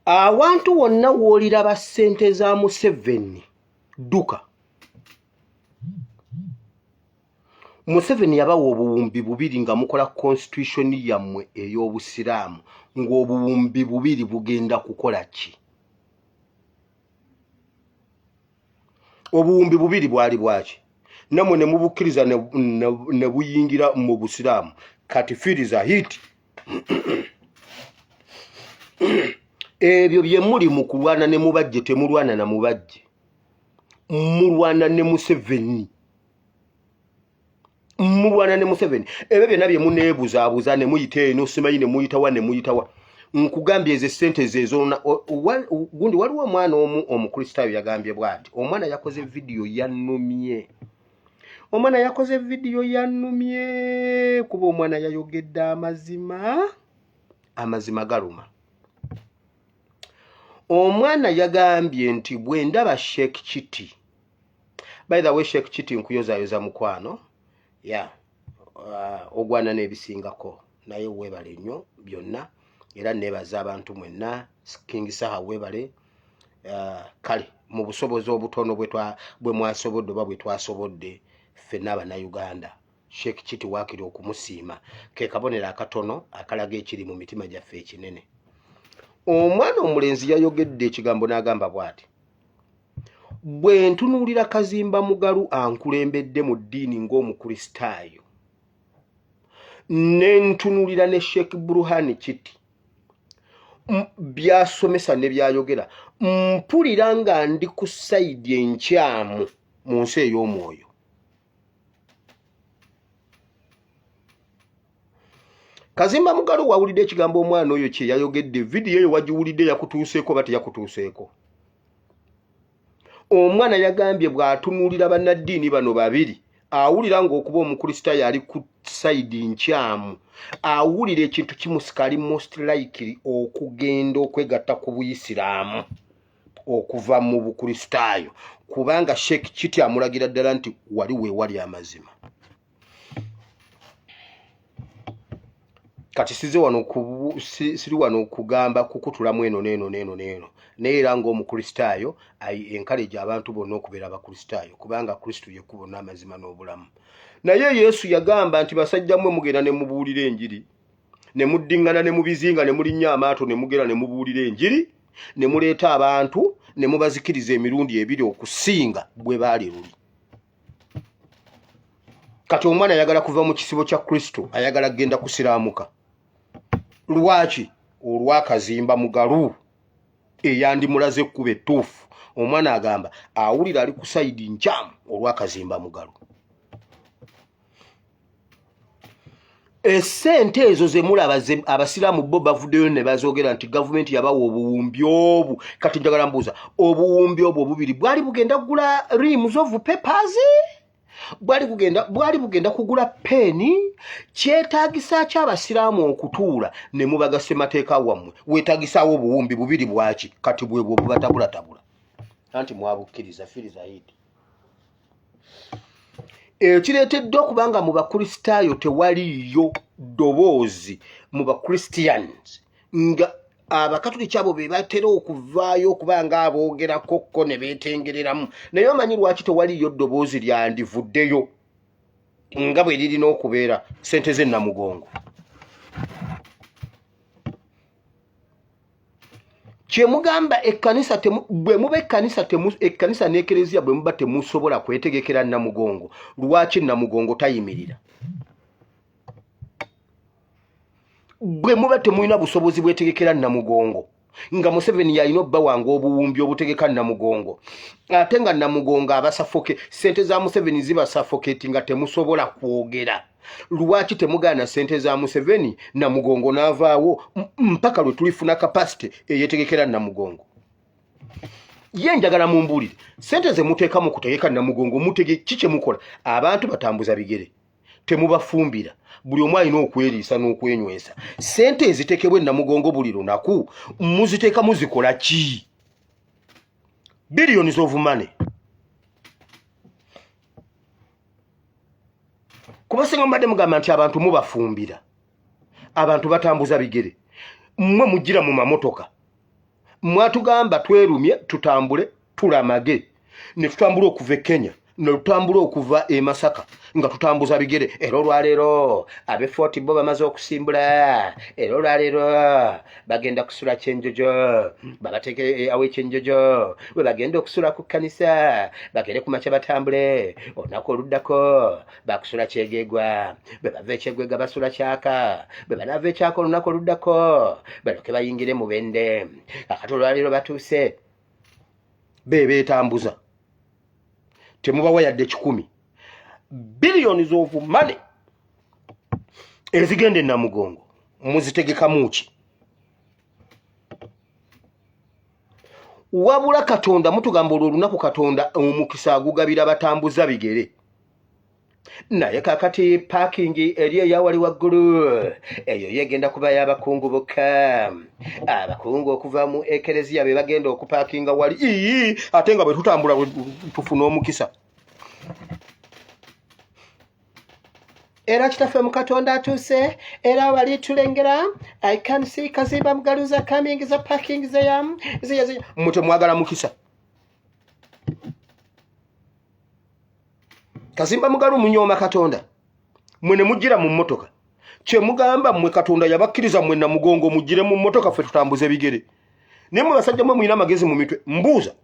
awantu wonna w'oliraba ssente za museveni dduka museveni yabawa obuwumbi bubiri nga mukola constitution yammwe ey'obusiraamu ng'obuwumbi bubiri bugenda kukola ki obuwumbi bubiri bwali bwaki namwe ne mubukkiriza ne buyingira mu busiraamu kati firiza hit ebyo bye muli mu kulwana ne mubajje temulwana na mubajje mulwana ne museveni mulwana ne museveni ebyo byonna bye muneebuzaabuza ne muyita eno simanyi ne muyitawa ne muyitawa nkugambye ezo esente zezoona gundi waliwo omwana omu omukristaayo yagambye bwati omwana yakoze vidiyo yanumye omwana yakoze vidiyo yanumye kuba omwana yayogedde amazima amazima galuma omwana yagambye nti bwe ndaba sheek kiti by the way sheik kiti nkuyozayoza mukwano ya uh, ogwana n'ebisingako naye webale nnyo byonna era nebaza abantu mwenna king saha webale uh, kale mu busobozi obutono bwe mwasobodde oba bwe twasobodde ffenna abanauganda sheik kiti wakiri okumusiima ke kabonero akatono akalaga ekiri mu mitima gyaffe ekinene omwana omulenzi yayogedde ekigambo n'agamba bwati bwe ntunuulira kazimba mugalu ankulembedde mu ddiini ng'omukristaayo ne ntunuulira ne sheikh buruhani kiti byasomesa ne byayogera mpulira nga ndi ku sayidi enkyamu mu nsi ey'omwoyo kazimba mugalu wawulidde ekigambo omwana oyo kye yayogedde vidiyo eyo wagiwulidde yakutuuseeko oba teyakutuuseeko omwana yagambye bw'atunuulira bannaddiini bano babiri awulira ng'okuba omukristaayo ali ku sayidi nkyamu awulira ekintu kimusika ali most likely okugenda okwegatta ku buyisiraamu okuva mu bukristaayo kubanga sheekh kiti amulagira ddala nti wali weewali amazima kati size wano siri wano okugamba kukutulamu eno neeno neeno neeno naye era ngaomukristaayo enkaleji abantu bonna okubeera abakristaayo kubanga kristo yekkubo n'amazima n'obulamu naye yesu yagamba nti basajja mwe mugenda ne mubuulira enjiri ne muddingana ne mubizinga ne mulinnya amaato ne mugera ne mubuulira enjiri ne muleeta abantu ne mubazikiriza emirundi ebiri okusinga bwe baali luli kati omwana ayagala kuva mu kisibo kya kristo ayagala kugenda kusiraamuka lwaki olwakazimba mugalu eyandimulaze ekkuba ettuufu omwana agamba awulira ali ku saidi nkyamu olwakazimba mugalu esente ezo zemulaba abasiraamu bo bavuddeyo ne bazogera nti gavumenti yabawa obuwumbi obu kati njagala mbuuza obuwumbi obwo obubiri bwali bugenda kugula reams of papers bwali kugenda bwali bugenda kugula peeni kyetaagisa ki abasiraamu okutuula ne mubaga ssemateeka wammwe weetagisaawo obuwumbi bubiri bwaki kati bwebwo bubatabulatabula anti mwabukkiriza firiza yidi ekireeteddwa okuba nga mu bakristaayo tewaliiyo ddoboozi mu bachristians nga abakatuliki abo be batera okuvaayo okuba nga aboogerako kko ne beetengereramu naye omanyi lwaki tewaliiyo ddoboozi lyandivuddeyo nga bwe lirina okubeera sente z'ennamugongo kyemugamba ekkanisa bwe muba ekkanisa ekkanisa n'ekereziya bwe muba temusobola kwetegekera namugongo lwaki namugongo tayimirira bwe muba temulina busobozi bwetegekera namugongo nga museveni yalina obba wange obuwumbi obutegeka namugongo ate nga namugongo abasafoke sente za museveni zibasafoketi nga temusobola kwogera lwaki temugaana sente za museveni namugongo n'avaawo mpaka lwe tulifuna kapasite eyetegekera namugongo ye njagala mumbuulire sente ze muteeka mu kutegeka namugongo mutege ki kye mukola abantu batambuza bigere temubafumbira buli omu alina okweriisa n'okwenywesa sente ezitekebwa enamugongo buli lunaku muziteeka muzikola ki billions of money kuba singa mubadde mugamba nti abantu mubafumbira abantu batambuza bigere mmwe mujjira mu mamotoka mwatugamba twerumye tutambule tulamage ne tutambula okuva e kenya ne tutambula okuva e masaka nga tutambuza bigere era olwaleero abe fort bo bamaze okusimbula era olwaleero bagenda kusula kyenjojo babateeke eh, awo ekyenjojo bwe bagenda okusula ku kkanisa bagende ku makya batambule olunaku oluddako bakusula kyegegwa bwe bava ekyegwega basula kyaka bwe banaava ekyaka olunaku oluddako baloke bayingire mu bende akati olwaleero batuuse bebeetambuza temubawa yadde kikumi billions of money ezigenda enamugongo muzitegekamuki wabula katonda mutugamba olwo olunaku katonda omukisa agugabira batambuza bigere naye kakati paakingi eri eyawali waggulu eyo yegenda kuba y'abakungu bokka abakungu okuva mu ekereziya be bagenda okupaakinga wali ii ate nga bwe tutambula tufuna omukisa era kitaffe mu katonda atuuse era wali tulengera i can see kazimba mugaluza coming za parking zeya zeya zeya mutemwagala mukisa kazimba mugalu munyooma katonda mwe ne mujjira mu mmotoka kye mugamba mmwe katonda yabakkiriza mmwe na mugongo mujjire mu mmotoka ffe tutambuze bigere naye mwe basajja mwe mulina amagezi mu mitwe mbuuza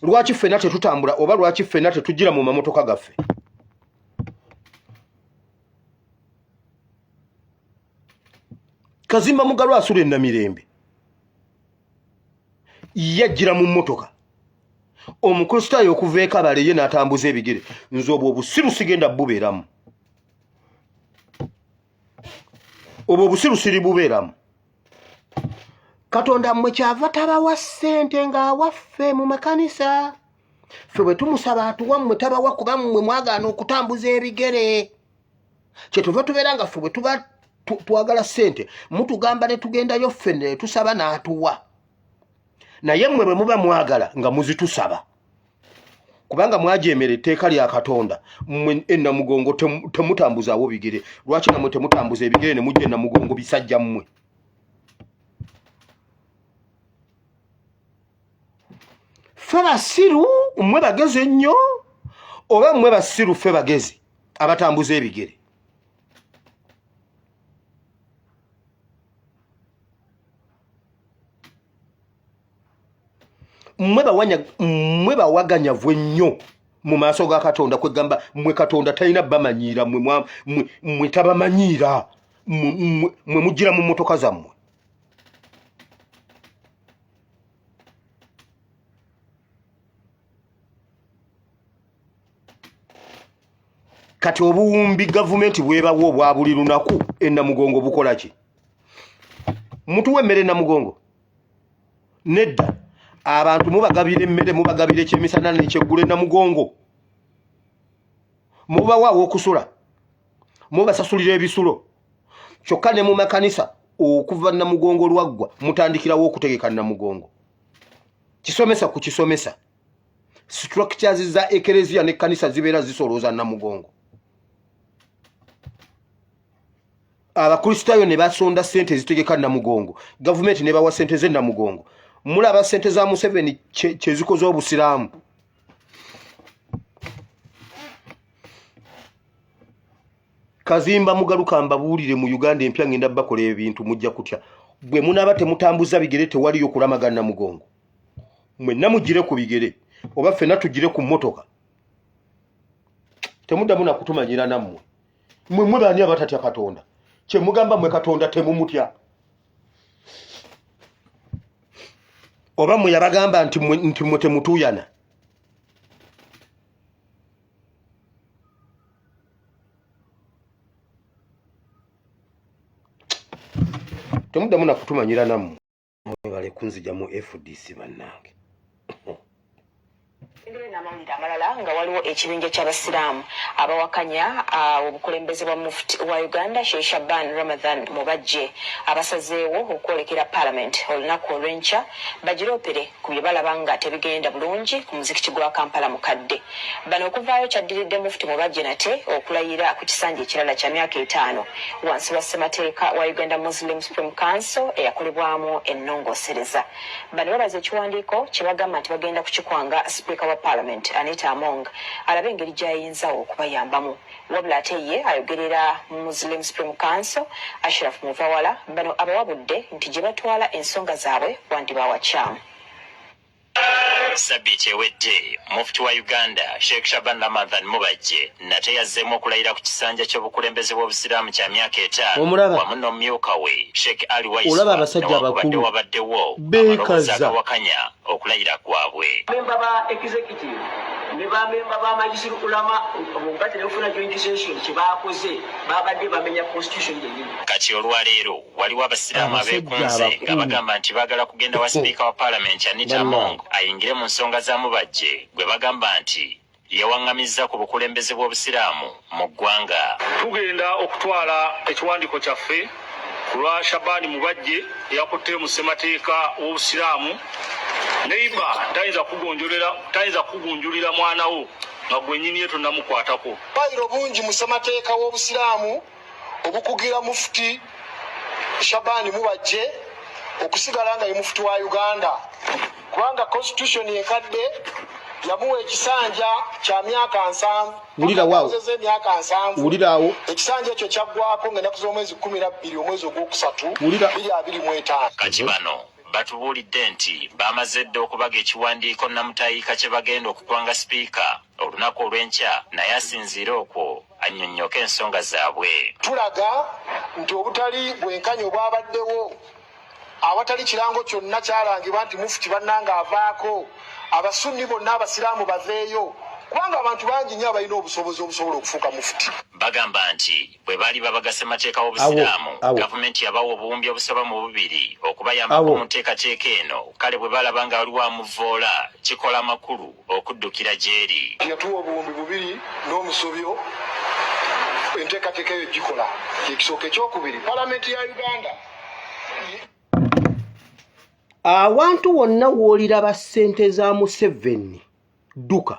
lwaki ffena tetutambula oba lwaki ffena tetujjira mu mamotoka gaffe kazimba mugalu asula enamirembe yajjira mu mmotoka omukristaayo okuva ekabale ye n'atambuza ebigere nze obwo obusiru sigenda bubeeramu obwo obusiru siri bubeeramu katonda mmwe kyava tabawa ssente ng'awaffe mu makanisa ffe bwe tumusaba atuwa mmwe tabawa kuba mmwe mwagaana okutambuza ebigere kyetuva tubeera nga ffe bwe tuba twagala ssente mutugamba ne tugendayo ffe ne tusaba n'atuwa naye mmwe bwe muba mwagala nga muzitusaba kubanga mwajeemera etteeka lya katonda mmwe enamugongo temutambuzaawo bigere lwaki namwe temutambuza ebigere ne mujja enamugongo bisajja mmwe fe basiru mmwe bagezi ennyo oba mmwe basiru fe bagezi abatambuza ebigere mwe bawaganyavu ennyo mu maaso ga katonda kwegamba mwe katonda talina bamanyiira mwe tabamanyiira mwe mujjira mu motoka zammwe kati obuwumbi gavumenti bwebawa obwa buli lunaku enamugongo bukola ki mutuwa emmere enamugongo nedda abantu mubagabira emmere mubagabira ekyemisana nekyeggula enamugongo mubawa awokusula mubasasulira ebisulo kyokka ne mu makanisa okuva namugongo lwaggwa mutandikirawo okutegeka namugongo kisomesa ku kisomesa structures za ekereziya ne kanisa zibeera zisolooza namugongo abakristaayo ne basonda sente ezitegeka namugongo gavumenti nebawa sente ze namugongo mulaba sente za museveni kyezikoze obusiraamu kazimba mugaluka mbabuulire mu uganda empya ngenda bakola ebintu mujja kutya bwe munaaba temutambuza bigere tewaliyo kulamagana mugongo mwenna mugire ku bigere oba ffenna tugire ku mmotoka temuddamu nakutumanyira nammwe mwe mwe baani abatatya katonda kyemugamba mwe katonda temumutya oba mwe yabagamba nti mwe temutuuyana temuddamu nakutumanyira nammwe mwebale kunzija mu fdc bannange Engeri n'amawulire amalala nga waliwo ekibinja ky'Abasiraamu abawakanya ah, obukulembeze bwa Mufti wa Uganda Sheikh Shaban Ramadhan Mubajje abasazeewo okwolekera Palamenti olunaku olw'enkya bagiroopere ku bye balaba nga tebigenda bulungi ku muzikiti gwa Kampala Mukadde. Bano okuvaayo kyaddiridde Mufti Mubajje nate okulayira ku kisanja ekirala kya myaka etaano wansi wa ssemateeka wa Uganda Muslim Supreme Council eyakolebwamu ennongoosereza. Bano babaza ekiwandiiko kye bagamba nti bagenda kukikwanga sipiika wa Parliament Anita Among alabe engeri gy'ayinza okubayambamu. Wabula ate ye ayogerera Muslim Supreme Council Ashraf Muvawala bano abawabudde nti gye batwala ensonga zaabwe wandibaawa kyamu. Sabbiiti ewedde Mufti wa Uganda Sheikh Shaban Ramadhan Mubajje nate yazzeemu okulayira ku kisanja ky'obukulembeze bw'Obusiraamu kya myaka etaano wamu n'omumyuka we Sheikh Ali Waiswa newakubadde wabaddewo amaloboozi agawakanya okulayira kwabwe. Memba ba executive ne bamemba ba majisi lukulama omugatte nokufuna joint session kyebakoze babadde bamenya constitution yenyini kati olwaleero Waliwo abasiraamu abeekunze nga bagamba nti baagala kugenda wa sipiika wa paalamenti Anita Among ayingire mu nsonga za Mubajje gwe bagamba nti yawaŋŋamizza ku bukulembeze bw'Obusiraamu mu ggwanga. Tugenda okutwala ekiwandiiko kyaffe ku lwa Shaban Mubajje eyakutte mu ssemateeka w'Obusiraamu. Neiba tayinza kugonjolera tayinza kugunjulira mwana wo nga gwennyini ye tonnamukwatako. Bayiro bungi mu ssemateeka w'Obusiraamu. obukugira mufuti Shabani Mubajje okusigala nga ye mufuti wa Uganda kubanga constitution enkadde yamuwa ekisanja kya myaka nsanvu emyaka nsanvu ekisanja ekyo kyaggwako nga ennaku z'omwezi kumi na bbiri omwezi ogwokusatu biri abiri mu etaano kati bano batubuulidde nti baamaze dda okubaga ekiwandiiko namutayiika kye bagenda okukwanga sipiika olunaku olw'enkya naye asinziire okwo annyonnyoke ensonga zaabwe. Tulaga nti obutali bwenkanya obwabaddewo awatali kirango kyonna kyalangibwa nti mufuti bannange avaako, Abasunni bonna Abasiraamu baveeyo kubanga abantu bangi nnyo abalina obusobozi obusobola okufuuka mufuti. Bagamba nti bwe baali babagasa emateeka w'Obusiraamu, gavumenti yabawa obuwumbi obusoba mu bubiri okubayambako mu nteekateeka eno kale bwe balaba nga waliwo amuvvoola kikola makulu. okuddukira gy'eri. Yatuwa obuwumbi bubiri n'omusobyo enteekateeka eyo gikola kye kisooka. Ekyokubiri, Palamenti ya Uganda. Awantu wonna w'oliraba ssente za Museveni, dduka.